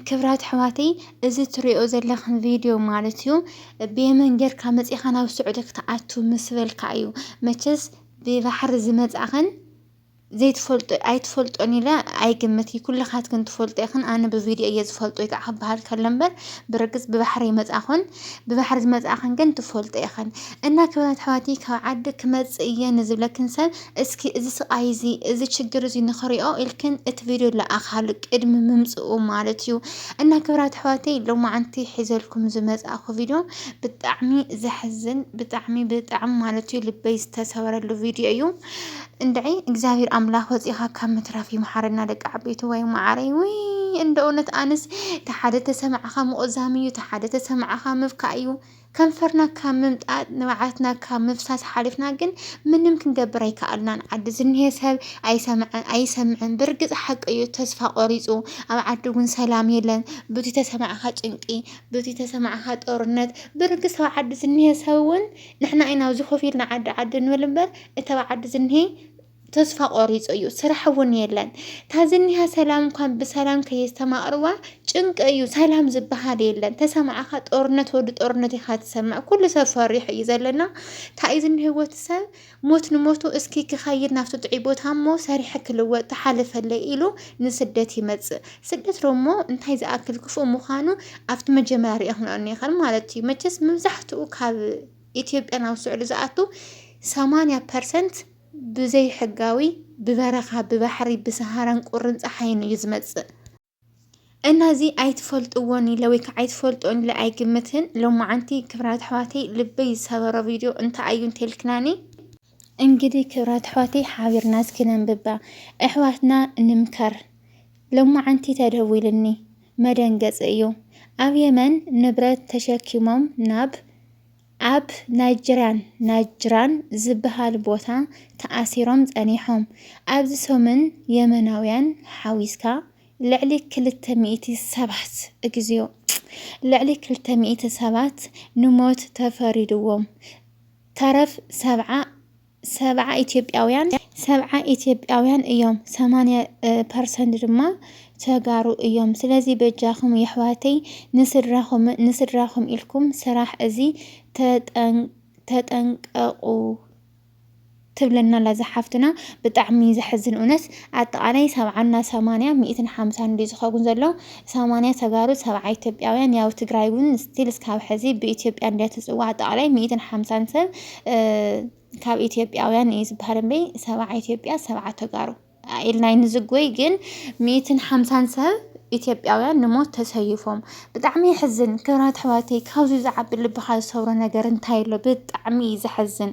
ክብራት ኣሕዋተይ እዚ ትሪኦ ዘለኽን ቪድዮ ማለት እዩ ብየመን ጌርካ መፂኻ ናብ ስዑዲ ክትኣቱ ምስ በልካ እዩ መቸስ ብባሕሪ ዝመፃኽን ዘይትፈልጦ ኣይትፈልጦን ኢለ ኣይግምት እዩ ኩልኻትክን ትፈልጦ ይኽን ኣነ ብቪድዮ እየ ዝፈልጦ እዩ ከዓ ክበሃል ከሎ እምበር ብርግፅ ብባሕሪ ይመፃኹን ብባሕሪ ዝመፃኽን ግን ትፈልጦ ይኽን እና ክብራት ኣሕዋቲ ካብ ዓዲ ክመፅእ እየ ንዝብለክን ሰብ እስኪ እዚ ስቃይ እዚ እዚ ችግር እዚ ንኽሪኦ ኢልክን እቲ ቪድዮ ለኣኻሉ ቅድሚ ምምፅኡ ማለት እዩ እና ክብራት ኣሕዋተይ ሎማዓንቲ ሒዘልኩም ዝመፃእኹ ቪድዮ ብጣዕሚ ዘሕዝን ብጣዕሚ ብጣዕሚ ማለት እዩ ልበይ ዝተሰበረሉ ቪድዮ እዩ እንድዒ እግዚኣብሔር ኣምላክ ወፂእኻ ካብ ምትራፍ ይምሓረና ደቂ ዓበይትዋይ ማዓረይ ውይ እንደ እውነት ኣነስ ተሓደ ተሰማዕኻ ምቁዛም እዩ ተሓደ ተሰማዕኻ ምብካእ እዩ ከንፈርና ካብ ምምጣጥ ንብዓትና ካብ ምፍሳስ ሓሊፍና ግን ምንም ክንገብር ኣይከኣልናን ዓዲ ዝኒሄ ሰብ ኣይሰምዐን ኣይሰምዕን ብርግፅ ሓቂ እዩ ተስፋ ቆሪፁ ኣብ ዓዲ እውን ሰላም የለን ብቲ ተሰማዕኻ ጭንቂ ብቲ ተሰማዕኻ ጦርነት ብርግፅ ኣብ ዓዲ ዝኒሄ ሰብ እውን ንሕና ኢና ኣብዚ ኮፍ ኢልና ዓዲ ዓዲ ንብል እምበር እቲ ኣብ ዓዲ ዝኒሀ ተስፋ ቆሪፁ እዩ ስራሕ እውን የለን እታ ዝኒሃ ሰላም እንኳን ብሰላም ከየስተማቕርዋ ጭንቂ እዩ ሰላም ዝበሃል የለን ተሰማዕኻ ጦርነት ወዲ ጦርነት ኢኻ ትሰምዕ ኩሉ ሰብ ፈሪሑ እዩ ዘለና እንታይ እዩ ዝኒሀ ወዲ ሰብ ሞት ንሞቱ እስኪ ክኸይድ ናብቲ ጥዑይ ቦታ እሞ ሰሪሐ ክልወጥ ተሓልፈለይ ኢሉ ንስደት ይመፅእ ስደት ዶሞ እንታይ ዝኣክል ክፉእ ምዃኑ ኣብቲ መጀመርያ ርኢኽናኦ ኔኸን ማለት እዩ። መቸስ መብዛሕትኡ ካብ ኢትዮጵያ ናብ ስዑዲ ዝኣቱ ሰማንያ ፐርሰንት ብዘይሕጋዊ ብበረኻ ብባሕሪ ብሰሃራን ቁርን ፀሓይን እዩ ዝመፅእ። እና እዚ ኣይትፈልጥዎን ኢለ ወይ ከዓ ኣይትፈልጦን ኢለ ኣይግምትን። ሎማዓንቲ ክብራት ኣሕዋተይ ልበይ ዝሰበሮ ቪድዮ እንታይ እዩ እንተልክናኒ እንግዲህ ክብራት ኣሕዋተይ ሓቢርና እስኪ ነንብባ ኣሕዋትና ንምከር ሎማዓንቲ ተደዊልኒ መደንገፂ እዩ ኣብ የመን ንብረት ተሸኪሞም ናብ ኣብ ናይጅርያን ናጅራን ዝበሃል ቦታ ተኣሲሮም ፀኒሖም ኣብዚ ሰሙን የመናውያን ሓዊስካ ልዕሊ ክልተ ሚእቲ ሰባት እግዚኦ ልዕሊ ክልተ ሚእቲ ሰባት ንሞት ተፈሪድዎም ተረፍ ሰብዓ ሰብዓ ኢትዮጵያውያን ሰብዓ ኢትዮጵያውያን እዮም ሰማንያ ፐርሰንት ድማ ተጋሩ እዮም ስለዚ በጃኹም የሕዋተይ ንስድራኹም ንስድራኹም ኢልኩም ስራሕ እዚ ተጠንቀቑ ትብለና ኣላ እዛ ሓፍትና ብጣዕሚ ዘሕዝን እውነት ኣጠቃላይ ሰብዓና ሰማንያ ሚእትን ሓምሳን ድዩ ዝኸውን ዘሎ ሰማንያ ተጋሩ ሰብዓ ኢትዮጵያውያን ያው ትግራይ ውን ስቲል እስካብ ሕዚ ብኢትዮጵያ እንድያ ትፅዋዕ ጠቕላይ ሚኢትን ሓምሳን ሰብ ካብ ኢትዮጵያውያን እዩ ዝበሃል እምበይ ሰብዓ ኢትዮጵያ ሰብዓ ተጋሩ ኢልና ንዝጎይ ግን ሚኢትን ሓምሳን ሰብ ኢትዮጵያውያን ንሞት ተሰይፎም ብጣዕሚ የሕዝን። ክብራት ኣሕዋተይ ካብዚ ዝዓቢ ልብኻ ዝሰብሮ ነገር እንታይ ኣሎ? ብጣዕሚ እዩ ዘሕዝን።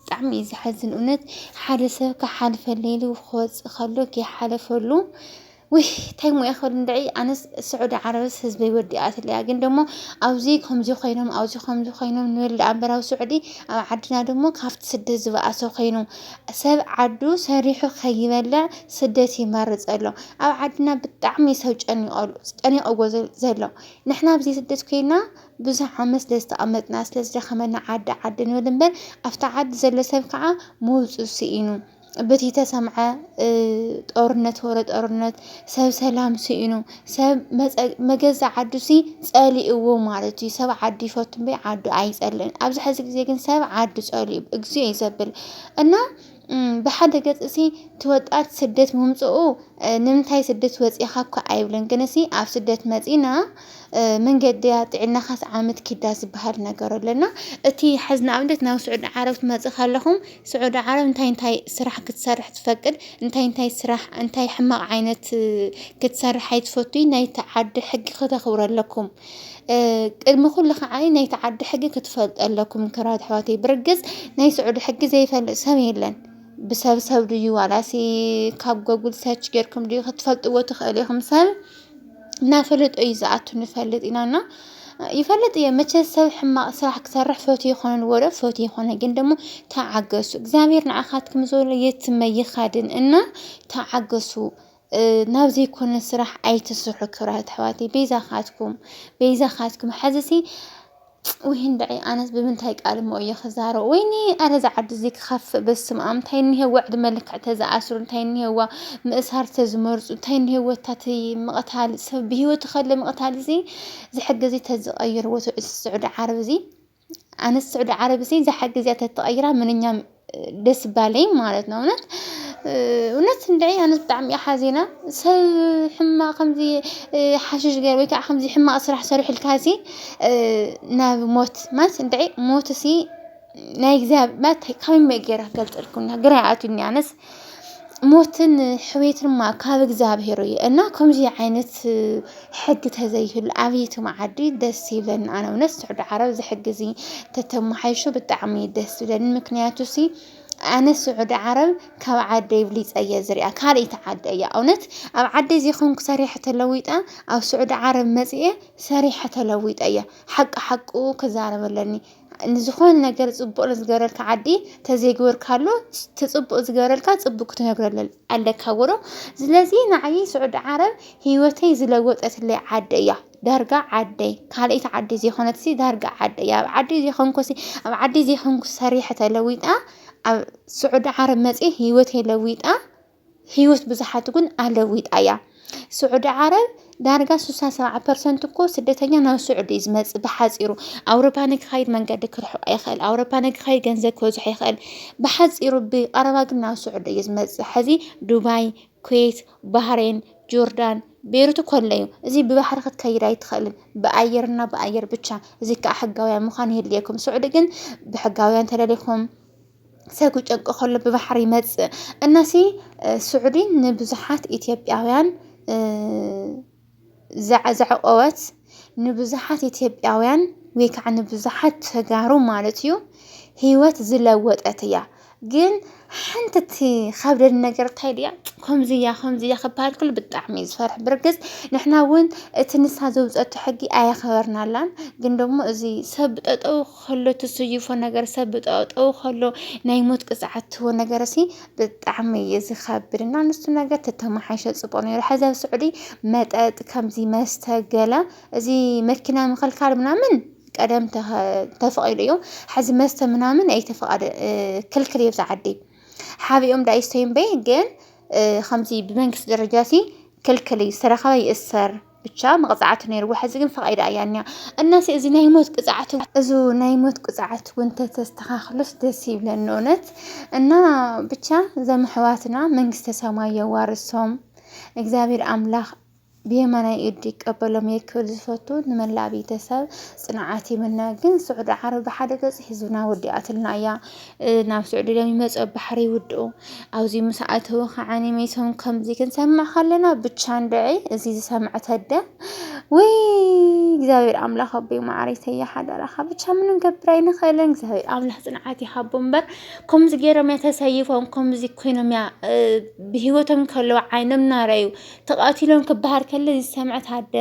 ብጣዕሚ እዩ ዝሐዝን እውነት ሓደ ሰብ ክሓልፈለይ ኢሉ ክወፅእ ከሎ ከይሓለፈሉ ውይ እንታይ ሞ ይኸል እንድዒ ኣነስ ስዑዲ ዓረብስ ህዝበይ ወዲኣትለያ ግን ደሞ ኣብዚ ከምዚ ኮይኖም ኣብዚ ከምዚ ኮይኖም ንብል ደኣ እምበር ኣብ ስዑዲ ኣብ ዓድና ደሞ ካብቲ ስደት ዝበኣሰ ኮይኑ ሰብ ዓዱ ሰሪሑ ከይበልዕ ስደት ይመርፅ ኣሎ ኣብ ዓድና ብጣዕሚ ሰብ ጨኒቐሉ ጨኒቐዎ ዘሎ ንሕና ኣብዚ ስደት ኮይና ብዙሕ ዓመት ስለ ዝተቐመጥና፣ ስለ ዝደኸመና ዓዲ ዓዲ ንብል እምበር ኣብቲ ዓዲ ዘሎ ሰብ ከዓ ምውፅኡ ስኢኑ። ብቲ ተሰምዐ ጦርነት ወረ ጦርነት ሰብ ሰላም ስኢኑ። ሰብ መፀ- መገዛ ዓዱ ሲ ፀሊእዎ ማለት እዩ። ሰብ ዓዱ ይፈቱ እምበይ ዓዱ ኣይፀልእን። ኣብዚ ሕዚ ግዜ ግን ሰብ ዓዱ ፀሊኡ እግዚኦ እዩ ዘብል እና ብሓደ ገጽሲ እቲ ወጣት ስደት ምምጽኡ ንምንታይ ስደት ወጺእኻ እኳ ኣይብልን ግንሲ ኣብ ስደት መጺና መንገድያ ጥዕናኻስ ዓመት ኪዳ ዝበሃል ነገር ኣሎ እና እቲ ሕዚ ንኣብነት ናብ ስዑዲ ዓረብ ትመጽእ ከለኹም ስዑዲ ዓረብ እንታይ እንታይ ስራሕ ክትሰርሕ ትፈቅድ እንታይ እንታይ ስራሕ እንታይ ሕማቕ ዓይነት ክትሰርሕ ኣይትፈቱይ ናይቲ ዓዲ ሕጊ ከተኽብሩ ኣለኩም። ቅድሚ ኩሉ ከዓ ናይቲ ዓዲ ሕጊ ክትፈልጡ ኣለኩም ክራት ኣሕዋተይ ብርግፅ ናይ ስዑዲ ሕጊ ዘይፈልጥ ሰብ የለን ብሰብ ሰብ ድዩ ዋላሲ ካብ ጎጉል ሰርች ጌርኩም ድዩ ክትፈልጥዎ ትኽእሉ ኢኹም ሰብ እናፈለጦ እዩ ዝኣቱ ንፈልጥ ኢና እና ይፈልጥ እየ መቸ ሰብ ሕማቕ ስራሕ ክሰርሕ ፈት ይኾነን ወረ ፈት ይኾነ ግን ደግሞ ተዓገሱ እግዚኣብሔር ንዓኻትኩም ዘሎ የትመ ይኻድን እና ተዓገሱ ናብ ዘይኮነ ስራሕ ኣይትስርሑ ክብራት ኣሕዋተይ በይዛኻትኩም በይዛኻትኩም ሐዚሲ ውይ እንድዒ ኣነስ ብምንታይ ቃል እሞ እየ ክዛረብ ወይኒ ኣረ እዛ ዓዲ እዚ ክኸፍእ በስመ ኣብ እንታይ እኒሀዋ ዕድመ ልክዕ ተዝኣስሩ እንታይ እኒሀዋ ምእሳር ተዝመርፁ እንታይ እኒሀዎ እታቲ ምቕታል ሰብ ብሂወቱ ከለ ምቕታል እዚ ዝሕገዚ ተዝቐይርዎ እቲ ስዑዲ ዓረብ እዚ ኣነስ ስዑዲ ዓረብ እሲ ዝሓ ግዜ ተተቐይራ ምንኛ ደስ ባለይ ማለት ነው። እውነት እውነት እንድዒ ኣነስ ብጣዕሚ እየ ሓዚና ሰብ ሕማቕ ከምዚ ሓሽሽ ገይሩ ወይ ከዓ ከምዚ ሕማቕ ስራሕ ሰሪሑልካ እሲ ናብ ሞት ማለት እንድዒ ሞት እሲ ናይ እግዚኣብሔር ማለት ከመይ ጌረ ክገልፀልኩም ግራ ይኣትወኒ ኣነስ ሞትን ሕውየትን እማ ካብ እግዚኣብሄር እዩ እና ከምዚ ዓይነት ሕጊ ተዘይህሉ ኣብየት መዓዲ ደስ ይብለኒ ኣነ እውነት ስዑዲ ዓረብ እዚ ሕጊ እዚ ተተመሓይሹ ብጣዕሚ እዩ ደስ ዝብለኒ ምክንያቱ እሲ ኣነ ስዑዲ ዓረብ ካብ ዓደይ ኣብሊፀ እየ ዝሪኣ ካልኣይቲ ዓደ እያ እውነት ኣብ ዓደይ ዘይኮንኩ ሰሪሐ ተለዊጠ ኣብ ስዑዲ ዓረብ መፂኤ ሰሪሐ ተለዊጠ እየ ሓቂ ሓቁ ክዛረብ ኣለኒ ንዝኾነ ነገር ጽቡቅ ንዝገበረልካ ዓዲ ተዘይግበርካሉ ትጽቡቅ ዝገበረልካ ጽቡቅ ክትነግረሉ ኣለካ ብሎ ስለዚ ንዓይ ስዑዲ ዓረብ ህይወተይ ዝለወጠትለይ ዓዲ እያ ዳርጋ ዓደይ ካልኣይቲ ዓዲ ዘይኮነትሲ ዳርጋ ዓደይ እያ ኣብ ዓዲ ዘይኮንኩሲ ኣብ ዓዲ ዘይኮንኩ ሰሪሐ ተለዊጣ ኣብ ስዑዲ ዓረብ መጽየ ህይወተይ ለዊጣ ህይወት ብዙሓት እውን ኣለዊጣ እያ። ስዑዲ ዓረብ ዳርጋ 67 ፐርሰንት እኮ ስደተኛ ናብ ስዑዲ እዩ ዝመፅእ ብሓፂሩ ኣውሮፓ ንክኸይድ መንገዲ ክርሕቆ ይኽእል ኣውሮፓ ንክኸይድ ገንዘብ ክበዝሖ ይኽእል ብሓፂሩ ብቀረባ ግን ናብ ስዑዲ እዩ ዝመፅእ ሕዚ ዱባይ ኩዌት ባህሬን ጆርዳን ቤሩት ኮሎ እዩ እዚ ብባሕሪ ክትከይድ ኣይትኽእልን ብኣየርና ብኣየር ብቻ እዚ ከዓ ሕጋውያን ምዃን የድልየኩም ስዑዲ ግን ብሕጋውያን ተለሊኹም ሰጉ ጨንቂ ከሎ ብባሕሪ ይመጽእ እናሲ ስዑዲ ንብዙሓት ኢትዮጵያውያን ዘዕቆወት ንብዙሓት ኢትዮጵያውያን ወይ ከዓ ንብዙሓት ተጋሩ ማለት እዩ ህይወት ዝለወጠት እያ ግን ሓንቲ እቲ ከብደድ ነገር እንታይ ድያ ከምዚ እያ ከምዚ እያ ክበሃል ከሎ ብጣዕሚ እዩ ዝፈርሕ ብርግፅ ንሕና እውን እቲ ንሳ ዘውፀቶ ሕጊ ኣየኸበርናላን ግን ደግሞ እዚ ሰብ ጠጠው ከሎ ትስይፎ ነገር ሰብ ብጠጠው ከሎ ናይ ሞት ቅፅዓት ትህቦ ነገር ሲ ብጣዕሚ እዩ ዝኸብድ እና ንሱ ነገር ተተመሓይሸ ፅቡቅ ነይሩ። ሕዚ ኣብ ስዑዲ መጠጥ ከምዚ መስተ ገለ እዚ መኪና ምክልካል ምናምን ቀደም ተፈቂዱ እዩ። ሕዚ መስተ ምናምን ኣይተፈቀደ ክልክል እዩ ኣብዚ ዓዲ ሓቢኦም ዳ ይስተዩ እምበይ ግን ከምዚ ብመንግስቲ ደረጃ ሲ ክልክል እዩ ዝተረኸበ ይእሰር። ብቻ መቕፃዕቲ ነይርዎ ሕዚ ግን ፈቓይዳ እያ እኒኣ እናሲ እዚ ናይ ሞት ቅፅዓት እዚ ናይ ሞት ቅፅዓት እውን ተተስተኻኽሎስ ደስ ይብለኒ እውነት እና ብቻ ዘም ሕዋትና መንግስተ ሰማይ የዋርሶም እግዚኣብሔር ኣምላኽ ብየማናይ ኢዱ ይቀበሎም እየ ክብል ዝፈቱ ንመላእ ቤተሰብ ፅንዓት ይምነ ግን ስዑዲ ዓረብ ብሓደ ገፅ ህዝብና ወዲኣትልና እያ ናብ ስዑዲ ሎም ይመፁ ኣብ ባሕሪ ይውድኡ ኣብዚ ምስ ኣተው ከዓኒ ሜሶም ከምዚ ክንሰምዕ ከለና ብቻ እንድዒ እዚ ዝሰምዐ ተደ ወይ እግዚኣብሔር ኣምላኽ ኣቦይ ማዕረይ ሰያ ሓደራኻ ብቻ ምንም ገብር ኣይንኽእልን እግዚኣብሔር ኣምላኽ ፅንዓት ይሃቦ እምበር ከምዚ ገይሮም እያ ተሰይፎም ከምዚ ኮይኖም እያ ብሂወቶም ከለዉ ዓይኖም ናረዩ ተቐቲሎም ክበሃል ከለ እዚ ዝሰምዐ ታደ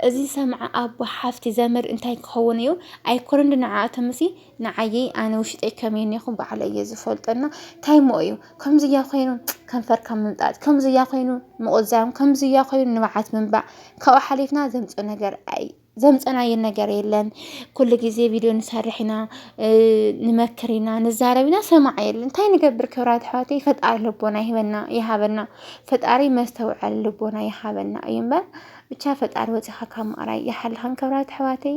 እዚ ዝሰምዐ ኣቦ ሓፍቲ ዘመድ እንታይ ክኸውን እዩ ኣይኮነን ንዓኣቶም እሲ ንዓየይ ኣነ ውሽጠይ ከመይ ኔኹ ባዕለ እየ ዝፈልጦ እና እንታይ ሞ እዩ ከምዝያ ኮይኑ ከንፈርካ ምምጣጥ ከምዝያ ኮይኑ ምቑዛም ከምዝያ ኮይኑ ንብዓት ምንባዕ ካብኡ ሓሊፍና ዘምፆ ነገር ኣይ ዘምፀናዮ ነገር የለን ኩሉ ግዜ ቪድዮ ንሰርሕ ኢና ንመክር ኢና ንዛረብ ኢና ሰማዕ የለን እንታይ ንገብር ክብራት ኣሕዋተይ ፈጣሪ ልቦና ይህበና ይሃበና ፈጣሪ መስተውዓሊ ልቦና ይሃበና እዩ እምበር ብቻ ፈጣሪ ወፂኻ ካብ ምቕራይ ይሓልኻን ክብራት ኣሕዋተይ